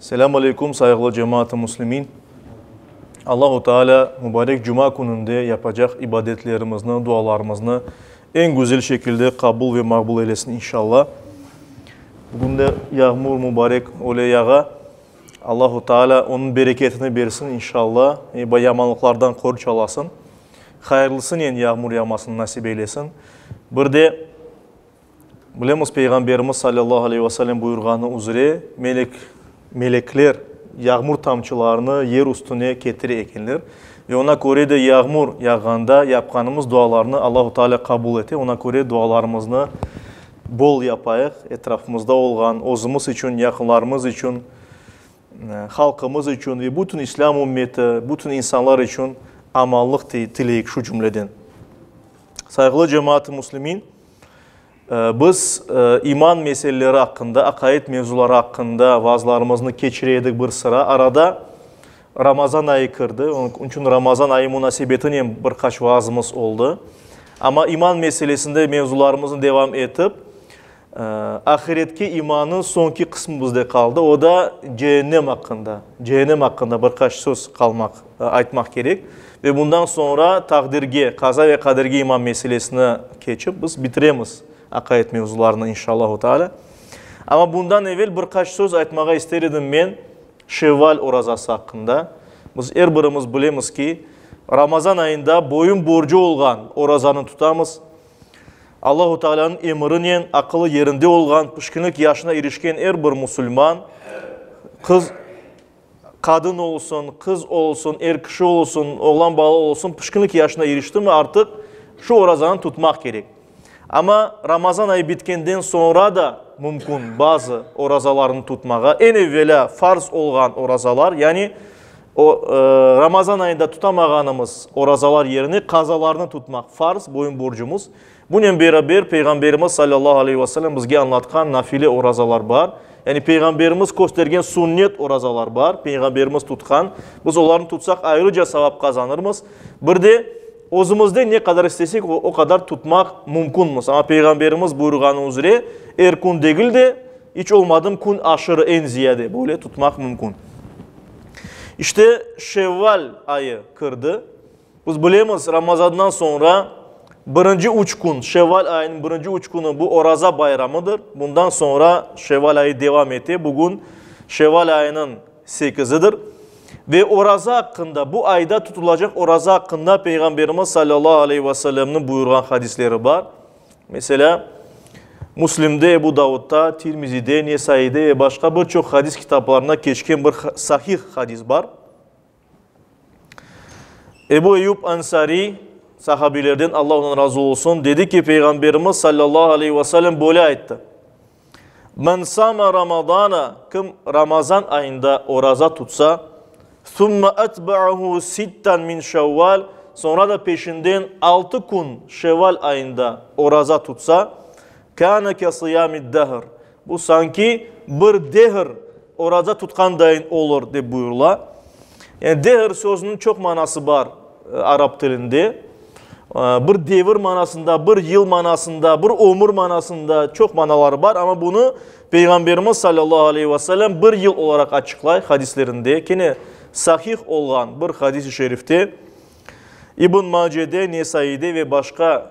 Selâm aleyküm, sayğılı cemaat-ı muslimin! Allahu Teala mubarek cuma kününde yapacaq ibadetlerimizni, dualarımıznı eñ güzel şekilde qabul ve maqbul eylesin, inşalla. Bugün de yağmur mubarek öyle yağa. Allahu Teala onıñ bereketini bersin, inşalla, ve yamanlıqlardan qoruç alasın. Hayırlısınen yağmur yağmasını nasip eylesin. Bir de Bilemiz, Peyğamberimiz salâllahu aleyh ve selem buyurğanı üzere, melek, melekler yağmur tamçılarını yer üstüne ketire ekenler. Ve oña köre de yağmur yağğanda yapqanımız dualarnı Allahu Teala qabul ete. Oña köre dualarımıznı bol yapayıq, etrafımızda olğan, özümiz içün, yaqınlarımız içün, halqımız içün ve bütün İslâm ümmeti, bütün insanlar içün amanlıq tileyik şu cümleden. Sayğılı cemaat-ı müslimin! Biz iman meseleleri aqqında, aqaid mevzuları aqqında vaazlarımıznı keçire edik bir sıra. Arada Ramazan ayı kirdi, onıñ içün Ramazan ayı munasebetinen bir qaç vaazımız oldı. Amma iman meselesinde mevzularımıznı devam etip, ahiretke imanıñ soñki qısmı bizde qaldı, o da cehennem aqqında, cehennem aqqında bir qaç söz qalmaq Aytmaq kerek. Ve bundan soñra taqdirge, qaza ve qaderge iman meselesine keçip, biz bitiremiz aqayet mevzularını, inşallahu teala. Amma bundan evel bir qaç söz aytmağa ister edim men Şevval orazası aqqında. Biz er birimiz bilemiz ki, Ramazan ayında boyun borcu olğan orazanı tutamız. Allahu Tealanıñ emrinen aqılı yerinde olğan, pişkinlik yaşına irişken er bir musulman qız, Qadın olsun, qız olsun, er kişi olsun, oğlan bala olsun pişkinlik yaşına irişti mi, artıq şu orazanı tutmaq kerek. Amma Ramazan ayı bitkenden soñra da mümkün bazı orazalarnı tutmağa. Eñ evvelâ farz olğan orazalar, yani o, Ramazan ayında tutamağanımız orazalar yerine qazalarnı tutmaq farz, boyun-borcumuz. Bunen beraber, Peyğamberimiz salâllahu aleyhi ve selem bizge añlatqan nafile orazalar bar, yani Peyğamberimiz köstergen sünnet orazalar bar, Peyğamberimiz tutqan, biz olarnı tutsaq ayrıca savap qazanırmız. Bir de, özümizden ne qadar istesek, o qadar tutmaq mümkünmiz. Amma Peyğamberimiz buyurğanı üzre, er kün degil de, iç olmadım kün aşırı, eñ ziyade, böyle tutmaq mümkün. İşte, Şevval ayı kirdi. Biz bilemiz, Ramazandan soñra birinci üç kün, şevval ayınıñ birinci üç künü bu oraza bayramıdır. Bundan soñra şevval ayı devam ete. Bugün şevval ayınıñ sekizidir. Ve oraza aqqında, bu ayda tutulacaq oraza aqqında Peyğamberimiz salâllahu aleyh ve sellemniñ buyurğan hadisleri bar. Meselâ, Müslimde, Ebu Davudda, Tirmizide, Nesaide ve başqa bir çoq hadis kitaplarında keçken bir sahih hadis bar. Ebu Eyyub Ansariy, sahabiylerden Alla ondan razı olsun, dedi ki, Peyğamberimiz sallallahu aleyhi ve sellem böyle ayttı. Men sama Ramazana, kim Ramazan ayında oraza tutsa, sümme etba'ahu sitten min şevval, sonra da peşinden altı kün şevval ayında oraza tutsa, kâne ke sıyamid dehr, Bu sanki bir dehir oraza tutqandayın olur, dep buyurıla. Yani dehir sözüniñ çoq manası bar arap tilinde. Bir devir manasında, bir yıl manasında, bir ömür manasında çoq manaları bar. Amma bunı Peyğamberimiz sallallahu aleyhi ve sellem bir yıl olaraq açıqlay hadislerinde. Kene sahih olğan bir hadis-i şerifte, İbn Macede, Nesaide ve başqa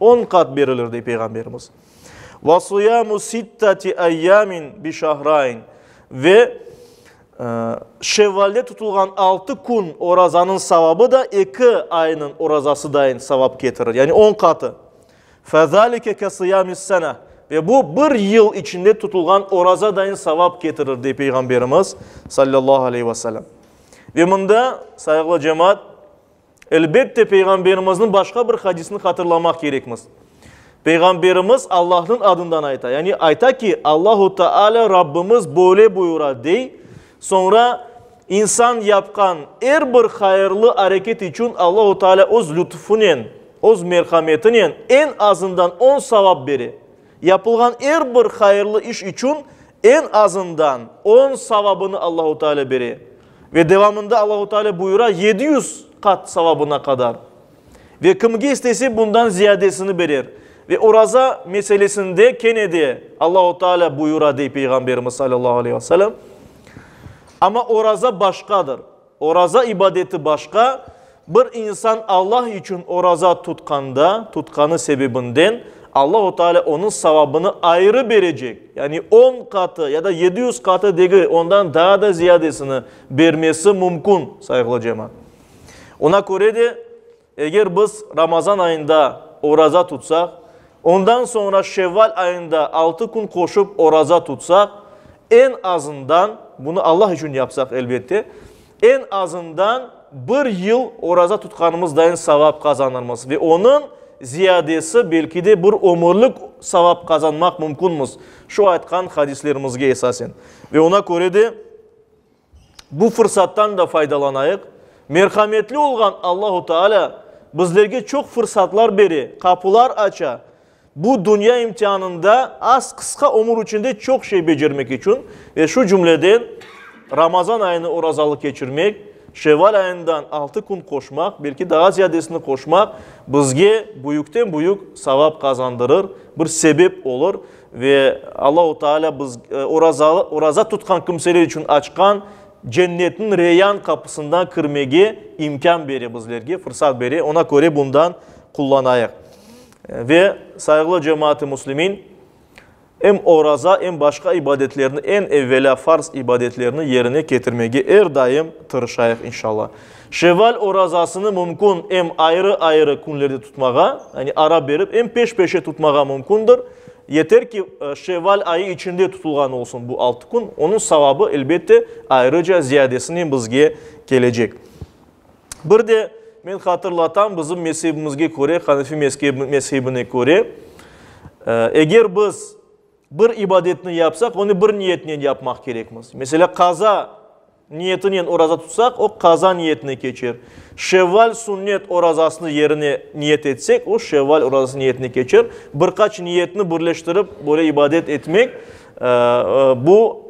On qat berilir, dey Peyğamberimiz. Ve suyamu sittati eyyamin bi şahrayn, ve Şevvalde tutulğan altı kün orazanıñ savabı da eki aynıñ orazasıdayin savap ketirir, yani on qatı. Fezalike ke sıyami sene, ve bu bir yıl içinde tutulğan orazadayin savap ketirir, dey Peyğamberimiz, sallallahu aleyhi ve sellem. Ve mında, sayğılı cemaat, Elbette, Peyğamberimizniñ başqa bir hadisini hatırlamaq kerekmiz. Peyğamberimiz Allahnıñ adından ayta, yani ayta ki, Allahu Teala Rabbimiz böyle buyura, dey, soñra insan yapqan er bir hayırlı areket içün Allahu Teala öz lütfunen, öz merhametinen eñ azından on savap bere. Yapılğan er bir hayırlı iş içün eñ azından on savabını Allahu Teala bere. Ve devamında Allahu Teala buyura, yedi yüz qat savabına qadar. Ve kimge istese bundan ziyadesini berer. Ve oraza meselesinde kene de Allahu Teala buyura, dey Peyğamberimiz sallallahu aleyhi ve sellem. Amma oraza başqadır. Oraza ibadeti başqa, bir insan Alla içün oraza tutqanda, tutqanı sebebinden, Allahu Teala onıñ savabını ayrı berecek, yani on qatı ya da yedi yüz qatı degil, ondan daa da ziyadesini bermesi mümkün, sayğılı cemaat. Oña köre de, Eger biz Ramazan ayında oraza tutsaq, ondan soñra Şevval ayında altı kün qoşıp oraza tutsaq, eñ azından, bunı Allah içün yapsaq, elbette, eñ azından bir yıl oraza tutqanımızdayin savap qazanırmız ve onıñ ziyadesi, belki de, bir ömürlik savap qazanmaq mümkünmiz, şu aytqan hadislerimizge esasen. Ve oña köre de. Bu fırsattan da faydalanayıq. Merhametli olğan Allahu Teala bizlerge çoq fırsatlar bere, qapular aça. Bu dünya imtianında az qısqa ömür içinde çoq şey becermek içün ve şu cümleden Ramazan ayını orazalı keçirmek, Şeval ayından altı kün qoşmaq, belki daa ziyadesini qoşmaq bizge büyükten büyük savap qazandırır, bir sebep olur. Ve Allahu Teala biz, orazalı, oraza tutqan kimseler içün açqan Cennetniñ Reyyan qapısından kirmege imkân bere bizlerge, fırsat bere. Oña köre bundan qullanayıq. Ve, sayğılı cemaat-ı muslimin, em oraza, em başqa ibadetlerni, eñ evvelâ farz ibadetlerni yerine ketirmege er daim tırışayıq, inşallah. Şevval orazasını mümkün em ayrı-ayrı künlerde tutmağa, yani ara berip, em peş-peşe tutmağa mümkündir. Yeter ki, şevval ayı içinde tutulğan olsun bu altı kün. Onıñ savabı, elbette, ayrıca ziyadesinen bizge kelecek. Bir de men hatırlatam, bizim mezhebimizge köre, Hanefi mezhebine köre, eger biz bir ibadetni yapsaq, onı bir niyetnen yapmaq kerekmiz. Meselâ, qaza Niyetinen oraza tutsaq, o qaza niyetine keçer. Şevval sünnet orazasını yerine niyet etsek, o şevval orazası niyetine keçer. Bir qaç niyetni birleştirip, böyle ibadet etmek, bu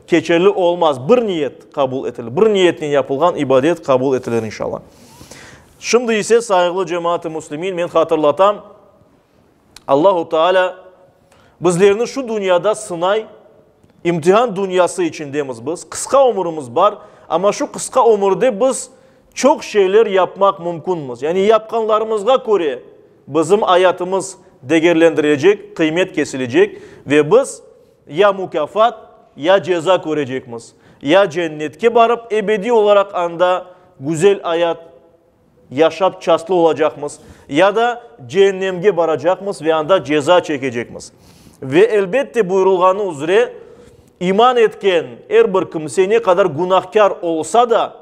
keçerli olmaz. Bir niyet qabul etilir. Bir niyetinen yapılğan ibadet qabul etilir inşalla. Şimdi ise, sayğılı cemaat-i muslimin, men hatırlatam, Allahu Teala bizlerni şu dünyada sınay, imtihan dünyası içindemiz biz, qısqa ömürimiz bar, amma şu qısqa ömürde biz çoq şeyler yapmaq mümkünmiz. Yani yapqanlarımızğa köre bizim ayatımız degerlendirilecek, qıymet kesilecek ve biz ya mukâfat, ya ceza körecekmiz, ya cennetke barıp ebediy olaraq anda güzel ayat Yaşap çastlı olacaqmız, ya da ceennemge baracaqmız ve anda ceza çekecekmiz. Ve, elbette, buyurılğanı üzre, iman etken er bir kimse ne qadar günahkâr olsa da,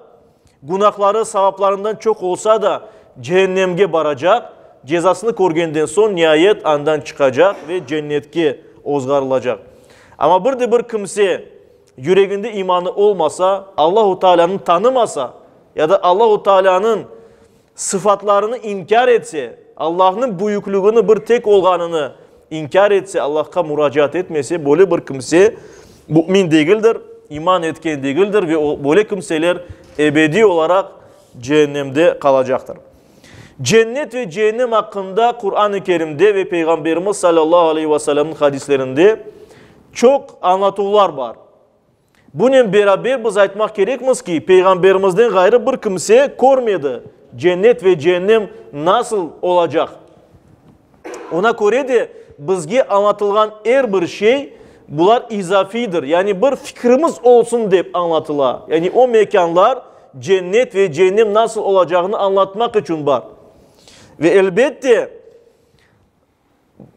günahları savaplarından çoq olsa da, ceennemge baracaq, cezasını körgenden soñ, niayet, andan çıqacaq ve cennetke ozğarılacaq. Amma bir de bir kimse Yüreginde imanı olmasa, Allahu Taalânı tanımasa ya da Allahu Taalânıñ sıfatlarını inkâr etse, Allahnıñ büyüklügini bir tek olğanını inkâr etse, Allahqa muracaat etmese, böyle bir kimse mümin degildir, iman etken degildir ve böyle kimseler ebediy olaraq cehennemde qalacaqtır. Cennet ve cehennem aqqında Quran-ı Kerimde ve Peyğamberimiz sallallahu aleyhi ve sellemniñ hadislerinde çoq añlatuvlar bar. Bunen beraber biz aytmaq kerekmiz ki, Peyğamberimizden ğayrı bir kimse körmedi, cennet ve cehennem nasıl olacaq? Oña köre de, bizge añlatılğan er bir şey, bular izafiydir, yani bir fikrimiz olsun dep añlatıla, yani o mekânlar, cennet ve cehennem nasıl olacağını añlatmaq içün bar. Ve elbette,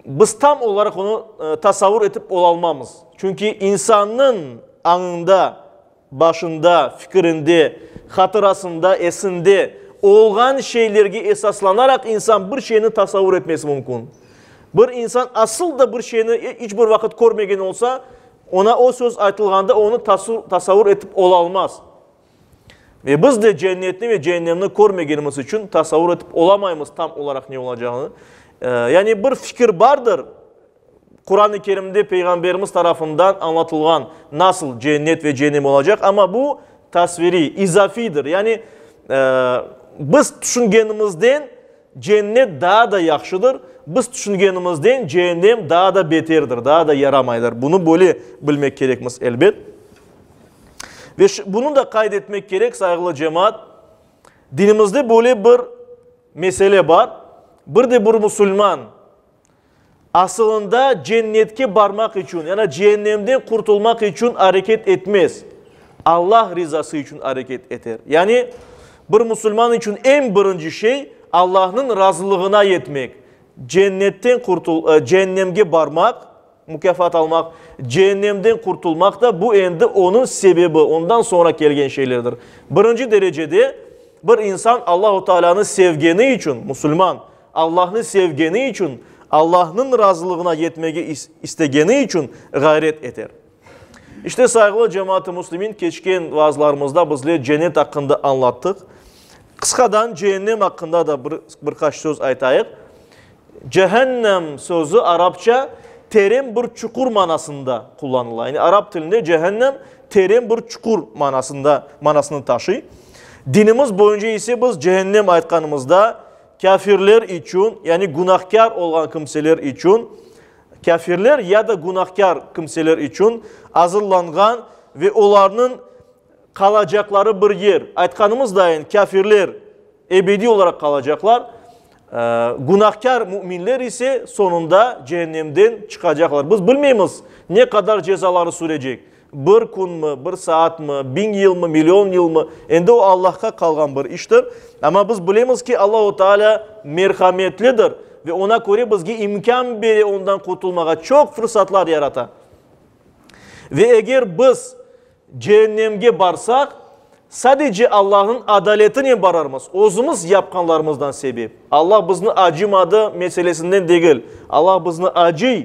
biz tam olaraq onı tasavur etip olalmamız. Çünki insannıñ añında. Başında, fikirinde, hatırasında, esinde olğan şeylerge esaslanaraq insan bir şeyni tasavur etmesi mümkün. Bir insan asıl da bir şeyni iç bir vaqıt körmegen olsa, oña o söz aytılğanda onı tasavur etip olalmaz. Ve biz de cennetni ve cehennemni körmegenimiz içün tasavur etip olamaymız tam olaraq ne olacağını. Yani bir fikir bardır, Quran-ı Kerimde Peyğamberimiz tarafından añlatılğan nasıl cennet ve cehennem olacaq, amma bu tasviriy, izafiydir. Yani biz tüşüngenimizden cennet daa da yahşıdır, biz tüşüngenimizden cehennem daa da beterdir, daa da yaramaydır. Bunı böyle bilmek kerekmiz, elbet. Ve bunı da qayd etmek kerek, sayğılı cemaat, dinimizde böyle bir mesele bar, bir de bir musulman, Asılında cennetke barmaq içün, yana ceennemden qurtulmaq içün areket etmez. Allah rizası içün areket eter. Yani, bir musulman içün eñ birinci şey, Allahnıñ razılığına yetmek, cennetten qurtul, ceannemge barmaq, Mukâfat almaq, ceennemden qurtulmaq da, bu endi onıñ sebebi, ondan soñra kelgen şeylerdir. Birinci derecede, bir insan Allahu Taalânı sevgeni içün, musulman, Allahnı sevgeni içün, Allahnıñ razılığına yetmege istegeni içün ğayret eter. İşte, sayğılı cemaat-ı muslimin, keçken vaazlarımızda bizler cennet aqqında añlattıq. Qısqadan ceennem aqqında da bir qaç söz aytayıq. Cehennem sözü arapça teren bir çuqur manasında qullanıla. Yani arap tilinde cehennem teren bir çuqur manasında manasını taşıy. Dinimiz boyunca ise biz cehennem aytqanımızda kâfirler içün, yani günahkâr olğan kimseler içün, kâfirler ya da günahkâr kimseler içün azırlanğan ve olarnıñ Qalacaqları bir yer. Aytqanımızdayin, kâfirler ebediy olaraq qalacaqlar, günahkâr müminler ise soñunda cehennemden çıqacaqlar. Biz bilmeymiz, ne qadar cezaları sürecek, bir künmi, bir saatmi, biñ yılmı, million yılmı, endi o Allahqa qalğan bir iştir. Amma biz bilemiz ki, Allahu Teala merhametlidir ve oña köre bizge imkân bere ondan qurtulmağa, çoq fırsatlar yarata. Ve eger biz Cehennemge barsaq, sadece Allahnıñ adaletinen bararmız, özümiz yapqanlarımızdan sebep. Allah bizni acımadı meselesinden degil. Allah bizni acıy,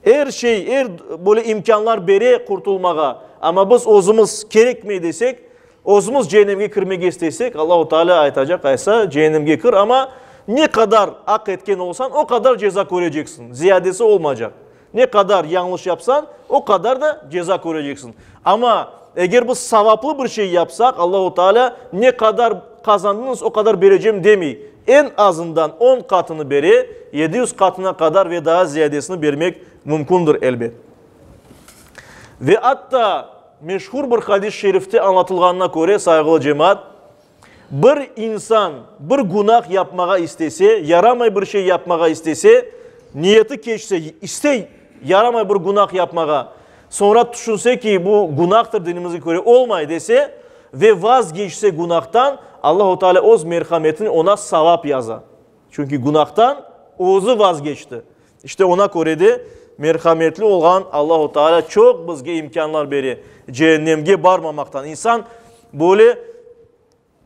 er şey, er böyle imkânlar bere qurtulmağa. Amma biz özümiz kerekmey desek, özümiz cehennemge kirmege isteysek, Allahu Taalâ aytacaq, Aysa, cehennemge kir, amma ne qadar aq etken olsañ, o qadar ceza köreceksiñ, ziyadesi olmaycaq. Ne qadar yañlış yapsañ, o qadar da ceza köreceksiñ. Amma eger biz savaplı bir şey yapsaq, Allahu Teala ne qadar qazandıñız, o qadar berecem demey. Eñ azından on qatını bere, yedi yüz qatına qadar ve daa ziyadesini bermek mümkündir, elbet. Ve atta meşhur bir hadis-i şerifte añlatılğanına köre, sayğılı cemaat, Bir insan bir günah yapmağa istese, yaramay bir şey yapmağa istese, niyeti keçse, iste yaramay bir günah yapmağa, soñra tüşünse ki, bu günahtır, dinimizge köre olmay dese ve vazgeçse günahtan, Allahu Teala öz merhametinen oña savap yaza. Çünki günahtan özü vazgeçti. İşte oña köre de, merhametli olğan Allahu Teala çoq bizge imkânlar bere, cehennemge barmamaqtan. İnsan böyle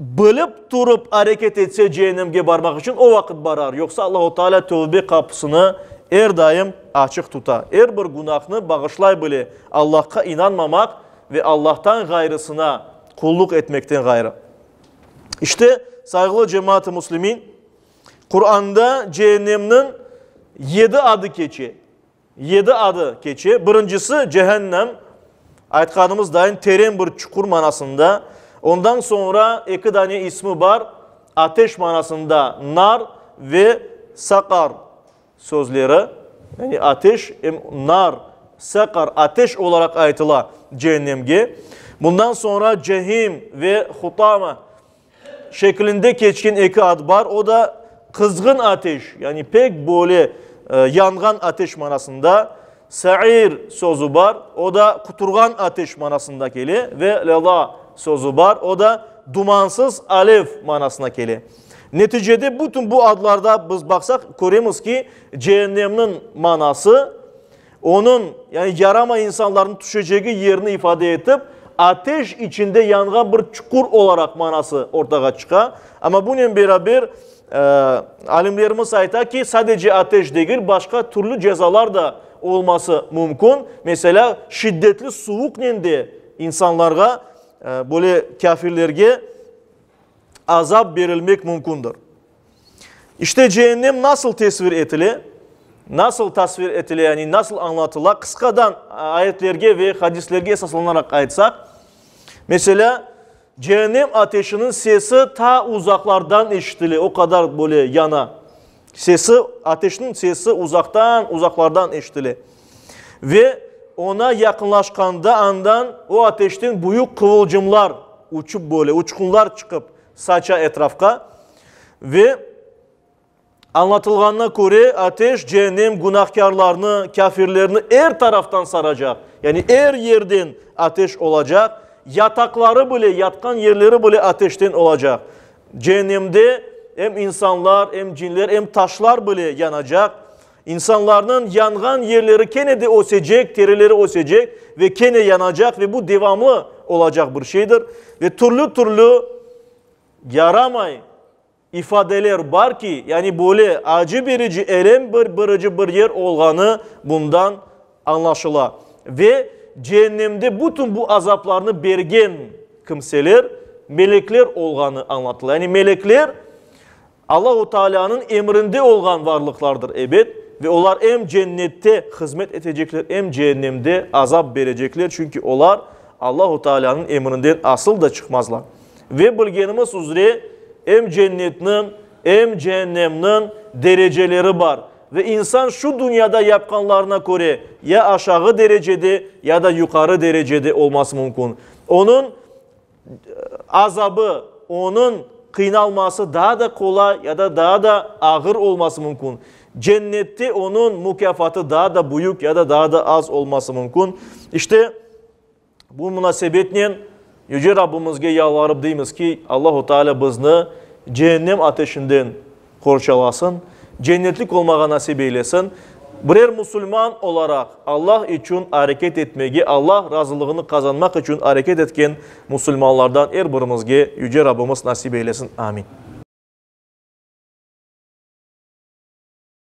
bilip turıp areket etse cehennemge barmaq içün, o vaqıt barar. Yoqsa Allahu Teala tövbe qapısını er daim açıq tuta. Er bir günahnı bağışlay bile, Allahqa inanmamaq ve Allahtan ğayrısına qulluq etmekten ğayrı. İşte, sayğılı cemaat-ı muslimin! Quranda ceennemniñ yedi adı keçe. Yedi adı keçe. Birincisi, cehennem, aytqanımız dayın, teren bir çuqur manasında. Ondan soñra eki dane ismi bar, ateş manasında nar ve saqar sözleri. Yani ateş, em nar, saqar, ateş olaraq aytıla ceennemge. Bundan soñra cehim ve hutama. şeklinde keçken eki ad bar, o da, qızğın ateş, yani pek böyle yanğan ateş manasında, Sair sözü bar, o da quturğan ateş manasında kele, ve Leza sözü bar, o da dumansız alev manasına kele. Neticede bütün bu adlarda biz baqsaq, köremiz ki, Cehennemniñ manası, Onıñ, yani yarama insanlarnıñ tüşecegi yerni ifade etip, ateş içinde yanğan bir çuqur olaraq manası ortağa çıqa. Amma bunen beraber, alimlerimiz ayta ki, sadece ateş degil, başqa türlü cezalar da olması mümkün. Meselâ, şiddetli suvuqnen de insanlarğa, böyle kâfirlerge azap berilmek mümkündir. İşte cehennem nasıl tesvir etile, nasıl tasvir etile, yani nasıl añlatıla, qısqadan ayetlerge ve hadislerge esaslanaraq aytsaq, meselâ, cehennem ateşiniñ sesi ta uzaqlardan eşitile, o qadar böyle yana, sesi, ateşniñ sesi uzaqtan, uzaqlardan eşitile. Ve oña yaqınlaşqanda andan o ateşten büyük quvulcımlar uçıp böyle, uçqunlar çıqıp, Saça etrafqa ve añlatılğanına köre, ateş cehennem günahkârlarnı, kâfirlerni er taraftan saracaq, yani er yerden ateş olacaq, yataqları bile, yatqan yerleri bile ateşten olacaq. Cehennemde em insanlar, em cinler, em taşlar bile yanacaq. İnsanlarnıñ yanğan yerleri kene de ösecek, terileri ösecek ve kene yanacaq ve bu devamlı olacaq bir şeydir. Ve türlü-türlü yaramay ifadeler bar ki, yani böyle acı berici, elem berici bir yer olğanı bundan añlaşıla. Ve Cehennemde bütün bu azaplarnı bergen kimseler, melekler olğanı añlatıla. Yani melekler. Allahu Taalânıñ emrinde olğan varlıqlardır, ebet, ve olar em Cennette hızmet etecekler, em Cehennemde azap berecekler, çünki olar Allahu Taalânıñ emrinden asıl da çıqmazlar. Ve bilgenimiz üzre, em Cennetniñ, em Cehennemniñ dereceleri bar, ve insan şu dünyada yapqanlarına köre ya aşağı derecede, ya da yuqarı derecede olması mümkün. Onıñ. azabı, onıñ qıynalması daa da qolay ya da daa da ağır olması mümkün, Cennette onıñ mukâfatı daa da büyük ya da daa da az olması mümkün. İşte, bu munasebetnen Yüce Rabbımızge yalvarıp deymiz ki, Allahu Teala bizni Cehennem ateşinden qorçalasın, cennetlik olmağa nasip eylesin, birer musulman olaraq Allah içün areket etmege, Allah razılığını qazanmaq içün areket etken musulmanlardan er birimizge Yüce Rabbimiz nasip eylesin. Amin.